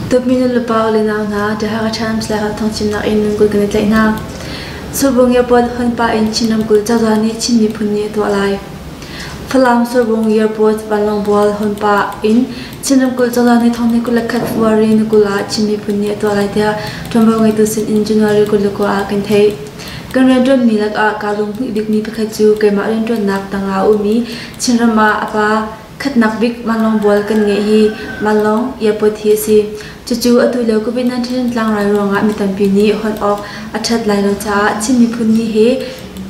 Tukminu le pa le nau hna The Hakha Times le Hakha Thawngchim nakin ramkulh kan i tlaih hna. Surbung Airport hunpa in Chin ramkulh cozah nih Chin miphun nih a tuah lai. Falam Surbung Airport vanlawng bual hunpa in Chin ramkulh cozah nih thong ni kul le khat February ni kul ah Chin miphun nih a tuah lai tiah ṭuanvo ngeitu sin in January kul le kua ah kan theih. Kan rianṭuanmi lakah kaa lunghmuih bikmi pakhat cu keimah rianṭuannak tangah a um i Chinram ah a pa khatnak bik vanlawng bual kan ngeih hi vanlawng airport hi a si. Cucu atu lio COVID-19 tlangrai ruangah mi tampi nih hon awk a ṭhat lai lo caah Chin miphun ni he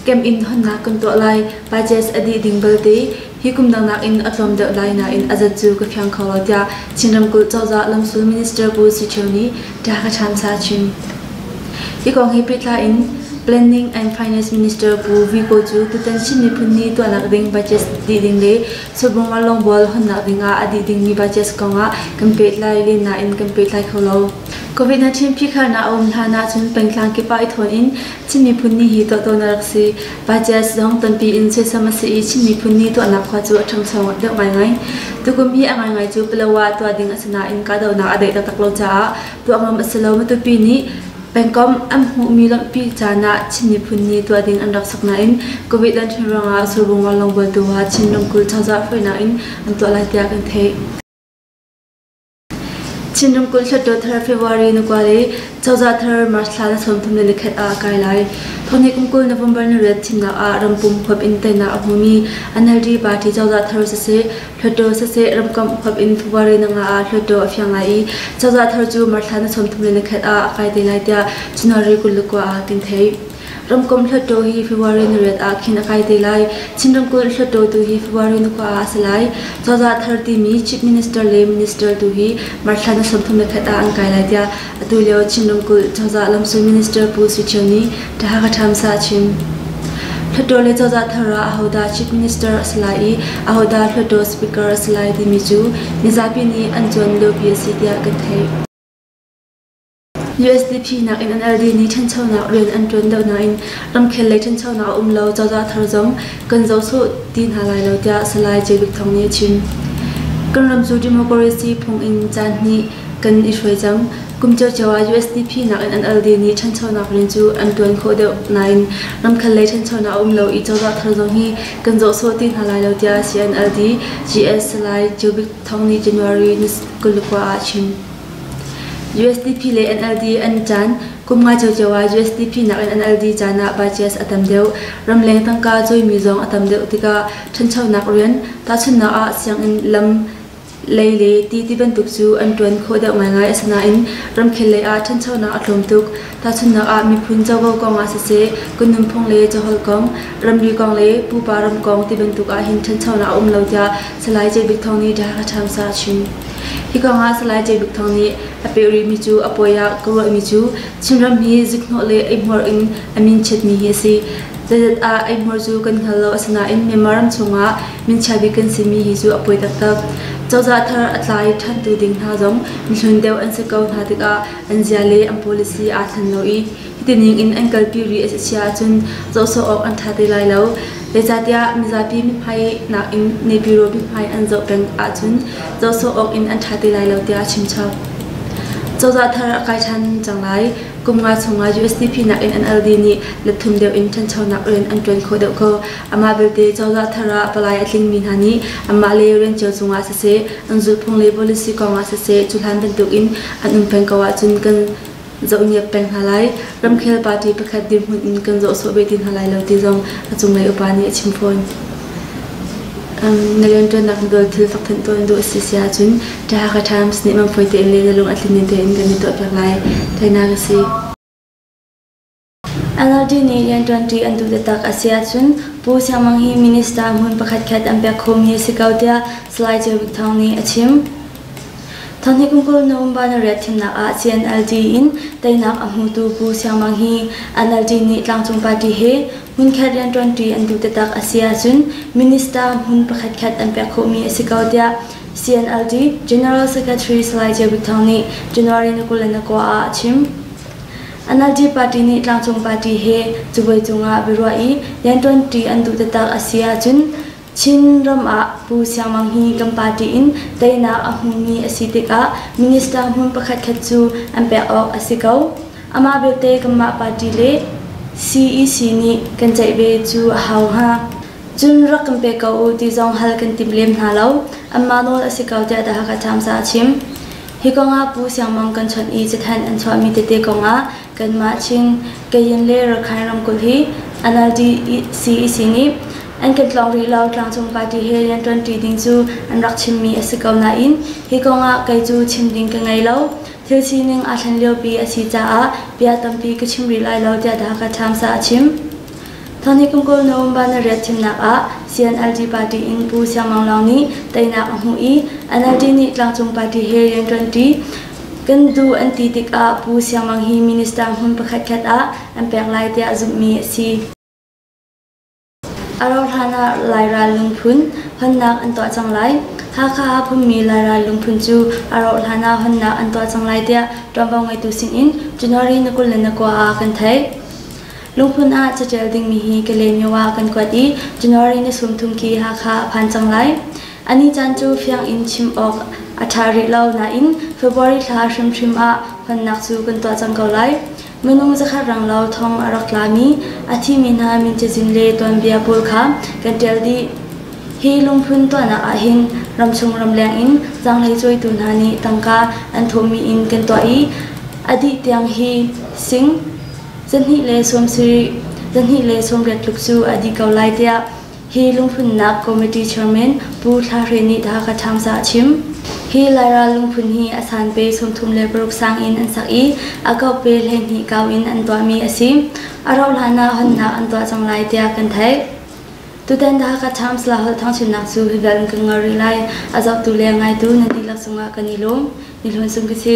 camp in honnak kan tuah lai. Budgets a dih ding balte Hi kum dang nakin a tlawm deuh lai nain a zat cu ka fiang kho lo tiah Chin ramkulh cozah lamsul minister Pu Si Cheu nih ṭa ka ṭhansa chin. Hi kong he pehtlai in Planning and Finance Minister Pu Viko cu tutan Chin miphun ni tuahnak ding budget dih ding le chubungar longbual honnak ding ah a dih dingmi budget kong ah kan pehtlai len nain kan pehtlai kho lo. Covid-19 phihkharnak a um hlan ahcun pengtlang kip ah i thawn in Chin miphun ni hi tohtonak rak si. Pacias zong tampi in soisam a si i Chin miphun ni tuahnak khua cu a ṭhangcho deuh ngaingai. Tukum hi a ngaingai cu Palawa tuah ding a si nain kahdohnak a daih taktak lo caah tuah ngam a si lo. Matupi nih pengkomh an hmuhmi lamhpi caan ah Chin miphun ni tuah ding an rak sak nain Covid lanhrin ruangah survung lawnglawng bualtu ha Chin ramkulh cozah hruainak in an tuah lai tiah kan theih. Chinram kul hluttaw thar February na kuat i cozah thar March thla na sawmthum le nikhat ah a kai lai. Thawni kum kul November ni riat thimnak ah rampum huap in teinak a hmumi NLD party cozah thar siseh hluttaw siseh ramkomh huap in February na nga ah hluttaw a fiang lai i cozah thar cu March thla na sawmthum le nikhat ah a kai te lai tiah January kul le kua ah tin theih. Ramkomh hluttaw hi February ni riat ah khin a kai te lai. Chin ramkulh hluttaw tu hi February ni kua ah a si lai. Cozah thar timi Chief Minister le Minister tu hi March thla ni sawmthum le khat ah an kai lai tiah atu lio Chin ramkulh cozah lamsul minister Pu Sui Ṭhio nih Taha Thamsa a chim. Hluttaw le cozah thar ah ahodah Chief Minister a si lai i ahodah Hluttaw Speaker a si lai timi cu mizapi nih an cuan liopi a si tiah kan theih. USDP nakin an LD nih ṭhanchonak rian an ṭuan deuh nain ramkhel lei ṭhanchonak a um lo, cozah thar zong kan zoh sawh ti hna lai lo tiah Salai Jay Luke Thawng nih a chim. Kan ram cu democracy phung in caan hnih kan i hruai cang. Kum ciocio ah USDP nakin an LD nih ṭhanchonak rian cu an ṭuan khawh deuh nain ramkhel lei ṭhanchonak a um lo i cozah thar zong hi kan zoh sawh ti hna lai lo tiah CNLD GS Salai Jay Luke Thawng nih January ni kul le kua ah a chim. USDP le NLD an caan kum nga ciocio ah USDP nakin NLD caan ah budgets a tam deuh. Ramleng tangka cawimi zong a tam deuh tikah ṭhanchonak rian, tahchunhnak ah sianginn lam lei le ti ti bantuk cu an ṭuan khawh deuh ngaingai. Asinain ramkhel lei ah ṭhanchonak a tlawm tuk. Tahchunhnak ah, miphun covo kong ah siseh, kan nunphung le caholh kong, ramri kong le pupa ram kong ti bantuk ah hin ṭhanchonak a um lo tiah Salai J Bik Thawng nih The Hakha Times ah a chim. Hi kong ah Salai J Bik Thawng nih a peh rihmi cu a poi ah ka ruahmi cu Chinram hi ziknawh le eihmuar in a min chiatmi hi a si. Zeidat ah eihmuar cu kan hngal lo asinain Myanmar ram chungah minchia bik kan simi hi cu a poi taktak. Cozah thar a tlai ṭhantu ding hna zong mihlun deuh an si ko hna tikah an zia le an policy aa thlen lo i hitining in an kalpi rih a si ahcun zohsawh awk an ṭha te lai lo. Zeicahtiah mizapi mithmai nakin nepiro mithmai an zoh peng ahcun zohsawh awk in an ṭha te lai lo tiah a chimchap. Cozah thar a kai ṭhan cang lai. Kum nga chung ah USDP nakin an LD nih let thum deuh in ṭhanchonak rian an ṭuan khawh deuh ko. Amah belte cozah thar ah palai a tlingmi hna nih anmah le rian cio cung ah siseh, an zulhphung le policy kong ah siseh, cuhlan bantuk in an um peng ko ahcun kan zohniap peng hna lai ramkhel party pakhat dirhmun in kan zohsawh ve ti hna lai lo ti zong a cunglei upa nih a chim fawn na rianṭuannak na dawt thil fakthanh tuan duh a si si ahcun Thahaka Times nih mamfawi tein le na lung a tlin ning tein kan i tuahpiak lai thainak a si Alardi nih rianṭuanṭi an duh taktak a si ahcun Pu Siang Mang hi minister hmun pakhatkhat an pek khomi a si ko tiah Salai Ceu Buk Thawng nih a chim. Thawngthei kum kul November nariat thimnak ah CNLD in teinak a hmutu Pu Siang Mang hi NLD nih tlangcung party he hmunkhat rianṭuanṭi an duh taktak a si ahcun minister hmun pakhatkhat an pek khawhmi a si ko tiah CNLD General Secretary Salai Ceu Buk Thawng nih January ni kul in a kua ah a chim. NLD party nih tlangcung party he cabuai cungah biaruah i rianṭuanṭi an duh taktak a si ahcun Chin ram ah Pu Siang Mang hi kan party in teinak a hmumi a si tikah minister hmun pakhatkhat cu an pek awk a si ko. Amah belte kanmah party le CEC nih kan ceih ve cu a hau hnga. Cun rak kan pe ko u ti zong hal kan tim lem hna lo. Anmah nawl a si ko tiah The Hakha Times ah a chim. Hi kongah Pu Siang Mang kan chawnh i cathanh an chuahmi tete kongah kanmah Chin, Kayin le Rakhine ramkulh hi NLD-CEC nih an kan tlawng rih lo tlangcung party he rian ṭuanṭi ding cu an rak chimmi a si ko nain hi kongah kei cu chim ding ka ngei lo. Thil sining aa thlen liopi a si caah bia tampi ka chim rih lai lo tiah The Hakha Times ah a chim. Thawni kum kul November narriat thimnak ah CNLD party in Pu Siang Maung Lawng nih teinak a hmuh i NLD nih tlangcung party he rian ṭuanṭi kan duh an ti tikah Pu Siang Maung hi minister hmun pakhatkhat ah an pek lai tiah zumhmi a si. A rauhhlan ah Lairal lungphun honnak an tuah cang lai. Hakha ah phunmi Lairal lungphun cu a rauhhlan ah honnak an tuah cang lai tiah ṭuanvo ngeitu sinin January na kul le na kua ah kan theih. Luhmun ah catial dingmi hi ka lemyo ah kan kuat i January ni sumthum khi Hakha a phan cang lai. A ni caan cu fiang in chim awk a ṭha rih lo nain February thla hrimhrim ah hmannak cu kan tuah cang ko lai. Minung zakhat ranglo thong a rak tlami a thimi hna min cazin le tuanbia pawl kha kan ṭial dih. Hi lungphun tuahnak ahhin ramchung ramleng in zanglei cuaitu hna nih tangka an thawhmi in kan tuah i a dih tiang hi sing Zahnih le sawm sarih, zahnih le sawmriat tluk cu a dih ko lai tiah hi lungphunnak committee chairman Pu Thla Hre nih The Hakha Times ah a chim. Hi Lairel lungphun hi a sanpe sawmthum le paruk sang in an sak i a kaupe hleihnih kau in an tuahmi a si. A rauh hlanah honnak an tuah cang lai tiah kan theih. Tutan The Hakha Times la holh thangchunnak cu hi bel in kan ngol rih lai. A zohtu le ngaitu nan dihlak cungah kan i lawm. Ni hlun sum ka si.